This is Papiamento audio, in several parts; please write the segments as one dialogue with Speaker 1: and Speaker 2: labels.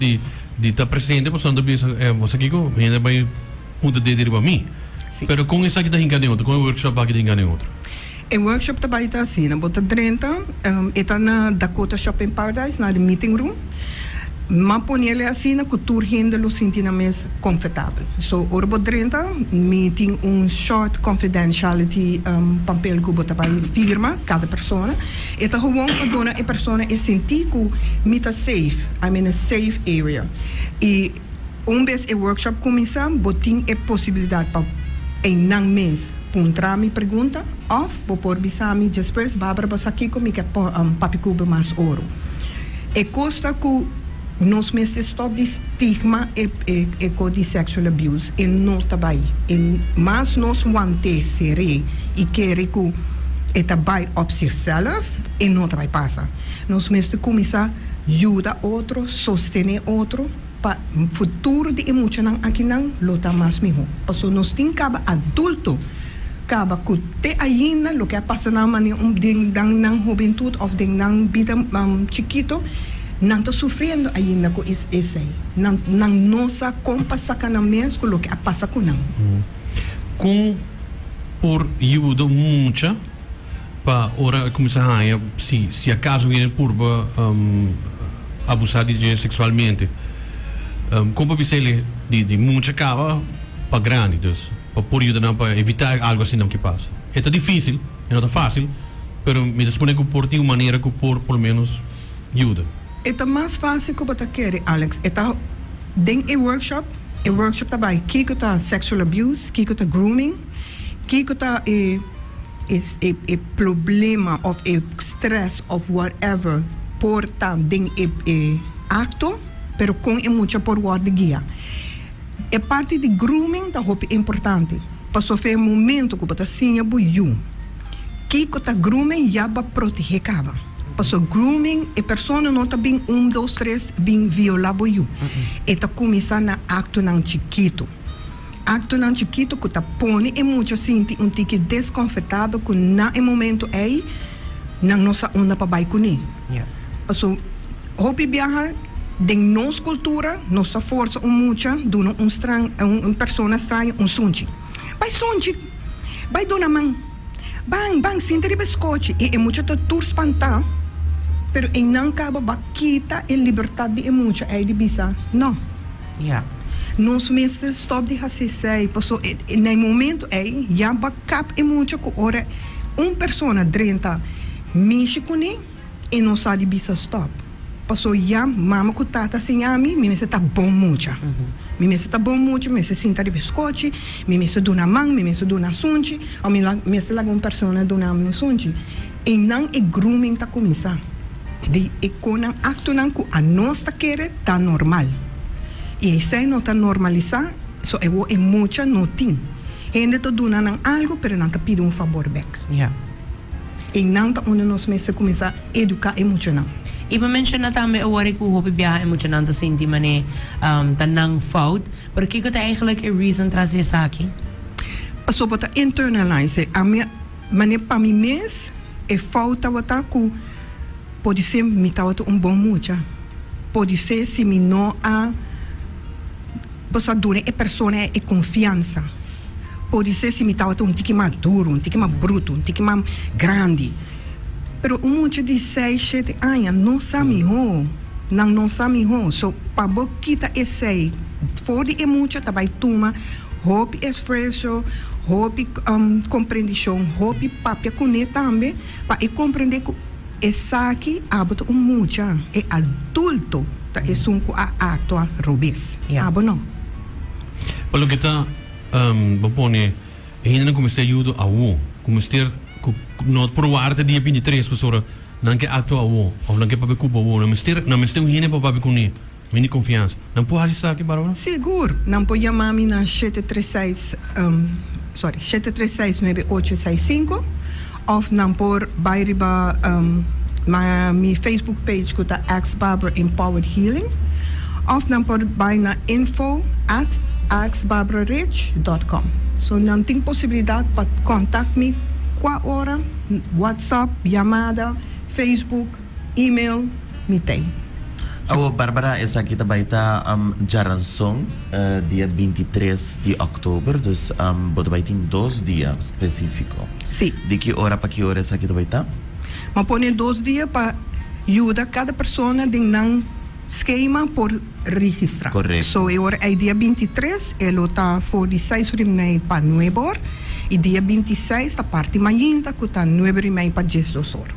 Speaker 1: di ta presente pasobra bo ta bisa eh boso kiko hende a bai punta denti riba mi si pero kon esaki ta hinca den otro kon e workshop aki ta hinca den otro? E workshop
Speaker 2: ta bai ta asina bo ta drenta e ta na Dakota Shopping Paradise na de meeting room ma ponele asina cu tur hende lo sinti nan mes confertabel so ora bo drenta mi tin un short confidentiality pampel cu bo ta bai firma cada persona. E ta gewoon pa duna e persona e sinti ku mi ta safe, I'm in a safe area. I un bes e workshop kuminsá bo tin e posibilidat pa einan mes puntra mi pregunta òf bo por bisa mi despues, Barbara bo sa kiko mi ke papi kuba mas oro. E cosa cu nos mester stop di stigma eco di sexual abuse e no ta bay. E mas nos wante sere y kere cu e ta bay op sirsellef e no ta bay pasa. Nos mester cuminsa yuda otro, sostene otro. Pa futuro di e muchanan akinan lo ta mas mihó. Pasobra nos tin caba adulto caba cu te ainda loke a pasa nan mane den nan hobentud of den nan bida chikito nan ta sufriendo ainda cu esei. Nan nan no sa con pa saca nan mes cu loke a pasa cu nan. Con
Speaker 1: por yuda un mucha? pa ora e cuminsa haya si si acaso e biene purba abusa di dje sexualmente con pa bisele di mucha caba pa grandi dus pa por yuda nan pa evita algo asinan ki pasa e ta dificil e no ta facil pero mi ta supone cu por tin un manera cu por por lo menos yuda. E ta mas
Speaker 2: facil cu bo ta kere Alex e ta den e workshop e workshop ta bay kico ta sexual abuse kico ta grooming. Kiko ta e e problema of e stress of whatever por ta den e e acto pero con e mucha por wordo guia. E parti di grooming ta hopi importante pasobra e momento cu bo ta siña bo yu kiko ta grooming ya bo a protege caba pasobra grooming e persona no ta bin un dos tres bin viola bo yu e ta cuminsa na actonan chikito. Aktonan chikitu ku ta pone e mucha sinti un tiki deskonfortado ku na e momentu ei nan no sa unda pa bai kuné. Paso hopi biaha den nos kultura nos ta forsa un mucha duna un straño, un persona straño un sunchi. Bai sunchi, bai duna man. Ban, ban sinti riba es kochi. I e mucha ta tur spantá, pero einan kaba ba kita e libertat di e mucha ei di bisa no. Ya. Nos mester stòp di hasi esei, paso na e momentu ei ya ba kap e mucha ku ora un persona drenta mishi kuné, E no sa di bisa stop. Paso ya mama cu tata siña mi, mi mester ta bon mucha. Mi mester ta bon mucha, mi mester sinta riba e scochi, mi mester duna man, mi mester duna sunchi, of mi mester laga un persona duna mi un sunchi. Einan e grooming ta cuminsa. Di e conan, actonan cu anos ta kere ta normal. Y eisai no ta normalisa, so e mucha no tin. Hende ta duna nan algo, pero nan ta pidi un fabor bek. I nan ta unda nos mester kuminsá eduká e muchanan. I pa menshona
Speaker 3: tambe awor e ku hopi biaha e muchanan ta sinti man'é ta nan fout. Pero kiko ta eigelik e reason tras di esaki? Pasó bo
Speaker 2: ta internalize e. Ami a man'é pa mi mes e fout tabata ku podisé mi tabata un bon mucha, podisé si mi no a. Boso a duna e persona e konfiansa. Podisé si mi tabata un tiki mas duru, un tiki mas brutu, un tiki mas grandi. Pero un mucha di sei, shete aña no sa mihó. Nan no sa mihó. So, pa bo kita esei for di e mucha ta bai tuma hopi esfuerso, hopi komprendishon, hopi papia kuné tambe pa e komprendé ku. Esaki abo ta un mucha, e adulto ta esun cu a actua robes. Abo no. Pa
Speaker 1: loke ta, bo pone, e hendenan cu mester yudo awo, cu mester, cu no probaar ta dia binti tres, pasobra nan ke actua awo, of nan ke papia cupo awo, nan mester, nan mester un hende pa papia cu ne. Mi di confiansa. Nan por haci esaki para bo? Sigur! Nan por
Speaker 2: yama mi na shete tres seis, um, sorry, shete tres seis nuebe ocho seis cinco, of nan por bay riba, um, na mi Facebook page cu ta Ask Barbara Empowered Healing, of nan por bay na info at askbarbararich dot com. So nan tin posibilidad pa contact mi cua ora, WhatsApp, yamada, Facebook. Email mi tin. Awo
Speaker 4: Barbara esaki ta bai ta djaranson dia binti i tres di october dus bo ta bai tin dos dia specifico Si. di ki
Speaker 2: ora pa ki
Speaker 4: ora esaki ta bai ta? Bo a pone
Speaker 2: dos dia pa yuda cada persona den nan schema por registra Correcto. so e ora
Speaker 4: ei dia
Speaker 2: binti i tres e lo ta for di seis ora di mei pa nuebe or i dia binti i seis ta parti mainta cu ta nuebe ora di mei pa djes dos or.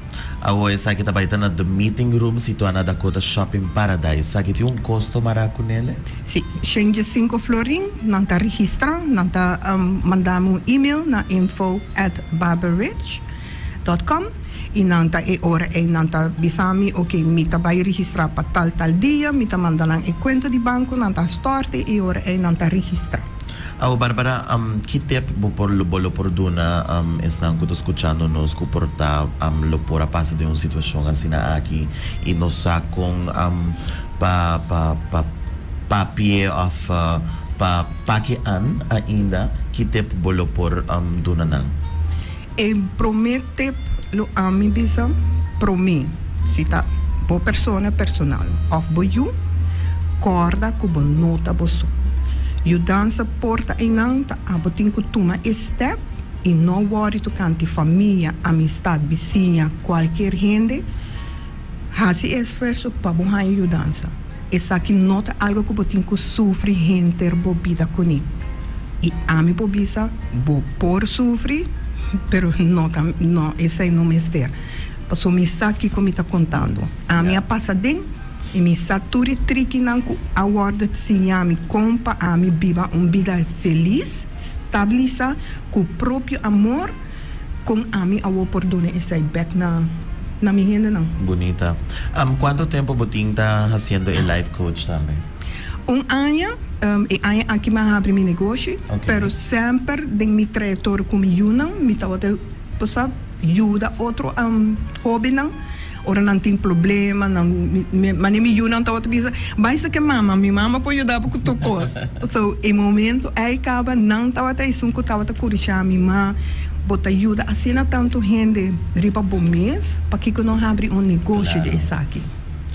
Speaker 2: Awo esaki ta
Speaker 4: bai ta na The Meeting Room situá na Dakota Shopping Paradise. Saki tin un kosto mará ku nele? Sí. Shengye
Speaker 2: sinku florin. Nan ta registrá. Nan ta mandá mi un email na info at barberridge dot com i nan ta e ora ei nan ta bisa mi, Oke, mi ta bai registrá pa tal tal dia. Mi ta manda nan e kuenta di banku, nan ta a stòrte i e ora ei nan ta registrá. Awe Barbara,
Speaker 4: ki tep bo por bo lo por duna esnan ku ta skuchando nos ku por ta lo por a pasa den un situashon asina aki i no sa kon pa pa pa papie òf pa paki an ainda? Ki tep bo lo por duna nan? E
Speaker 2: promé tip lo ami bisa, promé, si ta bo persona personal òf bo yu, kòrda ku bo no ta bo so. Yudansa por ta einan ta abo tin ku tuma e stèp i no wòri tokante famia, amistat, bisiña, kualkier hende. Hasi e esfuerso pa bo haña yudansa. Esaki no ta algo ku bo tin ku sufri henter bo bida kuné. I ami por bisa, bo por sufri, pero no ta, no, esei no mester. Pasobra mi sa kiko mi ta kontando. Ami a pasa den, i mi sa tur e trikinan ku a wòrdu siña mi kon pa ami biba un bida felis, stabilisá, ku propio amor. Con ami awor por duna esai bek na na mi hendenan? Bunita.
Speaker 4: Am cuanto tempo bo tin ta haciendo e life coach tambe? Un aña,
Speaker 2: e aña aki mi a habri mi negoshi, Okay. pero semper den mi trayectoria cu mi yunan mi tabata, bo sa, yuda otro hobennan. Ora nan tin problema, nan, mi, mane mi yunan tabata bisa, bai sa ke mama, mi mama por yuda bo ku tur kos. So, e momento ei kaba, nan tabata esun ku tabata kurisha mi, ma, bo ta yuda asina tantu hende riba bo mes, pakiko no habri un negoshi di esaki?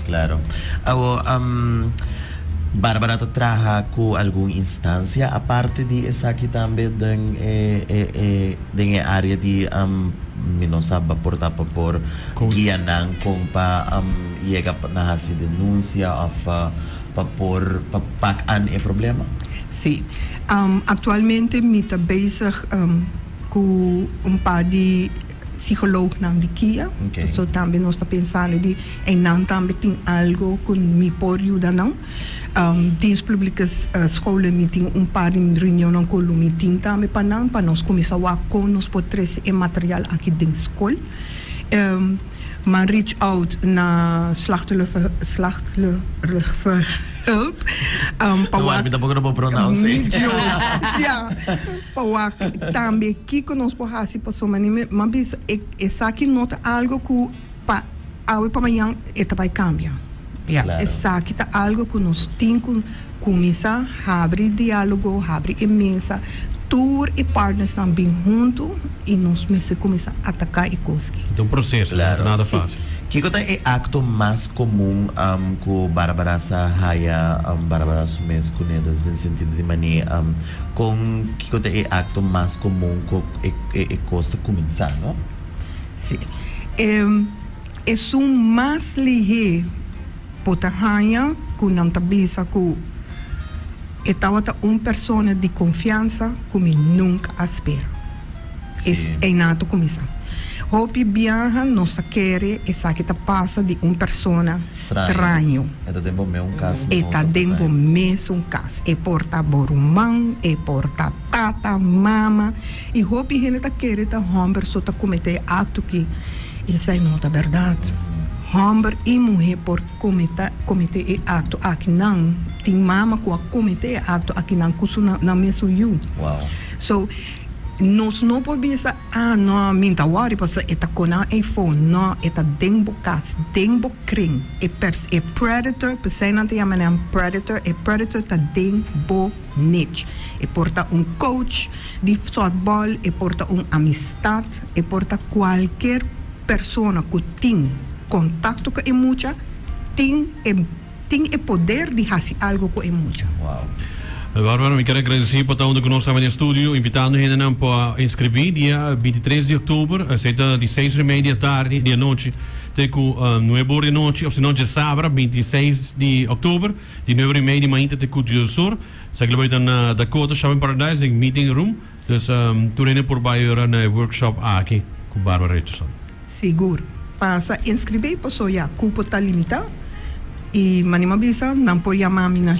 Speaker 4: Klaro. Awo, am, Barbara ta traha ku algun instansia aparte di esaki tambe den e, e, e. Den e área di mi no sa por ta pa por guia nan kon pa yega na hasi denunsia òf pa por pa pak an e problema? Sí.
Speaker 2: Aktualmente mi ta bezig ku un par di sikolognan di kia. So tambe nos
Speaker 4: ta
Speaker 2: pensando di eynan tambe tin algu ku mi por yuda nan. Tin splblike skoulen mi tin un par di reunionnan ku lo mi tin tambe pa nan pa nos kuminsá wak kon nos por trese e material aki den skol. M'an reach out na Slachtluverhulp
Speaker 4: pa wak
Speaker 2: pa wak tambe kiko nos por hasi pasobra mi a bisa esaki no ta algo ku. Pa awe pa mañan e ta bai kambia. Ya,
Speaker 3: esaki ta
Speaker 4: algu
Speaker 2: ku nos tin ku kuminsá habri diálogo, habri e mesa, tur e partnersnan bin huntu i nos mester kuminsá ataká e koski. Ta un proseso, no
Speaker 1: ta nada fásil.
Speaker 4: Kiko
Speaker 1: ta
Speaker 2: e
Speaker 1: akto
Speaker 4: mas komun ku Barbara sa haya Barbara su mes ku nedas den sentido di mané kon kiko ta e akto mas komun ku e kos ta kuminsá? Sí.
Speaker 2: E esun mas lihé bo ta haña ku nan ta bisa ku e tabata un persona di konfiansa ku mi nunka a spera. Sí. Es einan a ta kuminsá. Hopi biaha nos ta kere esaki ta pasa di un persona Straño. straño. E ta den bo mesun
Speaker 4: kas. E ta den bo
Speaker 2: mesun kas. E por ta bo ruman, e por ta. Tata, mama y hopi hende ta kere ta homber so ta comete e acto ki. Esai no ta berdad. Homber y muhe por comete e acto aki nan. Tin mama cu a comete e acto aki nan cu su nan mesun yu. So, nos no por bisa, ah, no, mi ta worry pasobra e ta cona e phone. No, e ta den bo cas, den bo kring. E predator, pesey nan ta yama nan predator, e predator ta den bo. Nec. E por ta un coach di softball, e por ta un amistad, e por ta cualkier persona cu tin contacto cu e mucha, tin e tin e poder di haci algo cu e mucha.
Speaker 4: Wow. Barbara, mi
Speaker 1: ker a agradeci pa ta unda cu nos ta den studio, invitando hendenan pa inscribi dia bintitres di oktober, esey ta di seis remei di atardi, di anochi, te cu nuebe ora di anochi, ofsino dje sabra bintiseis di oktober. Di nuevo rimei di mainta te Culto del Sur sa kila bai ta na Dakota Shopping Paradise den Meeting Room. Dus tur hende por bai yora na e workshop aki ku Barbara Richardson. Sigur,
Speaker 2: pasa a inskribí paso ya kupo ta limitá i manima bisa nan por yamá mi na.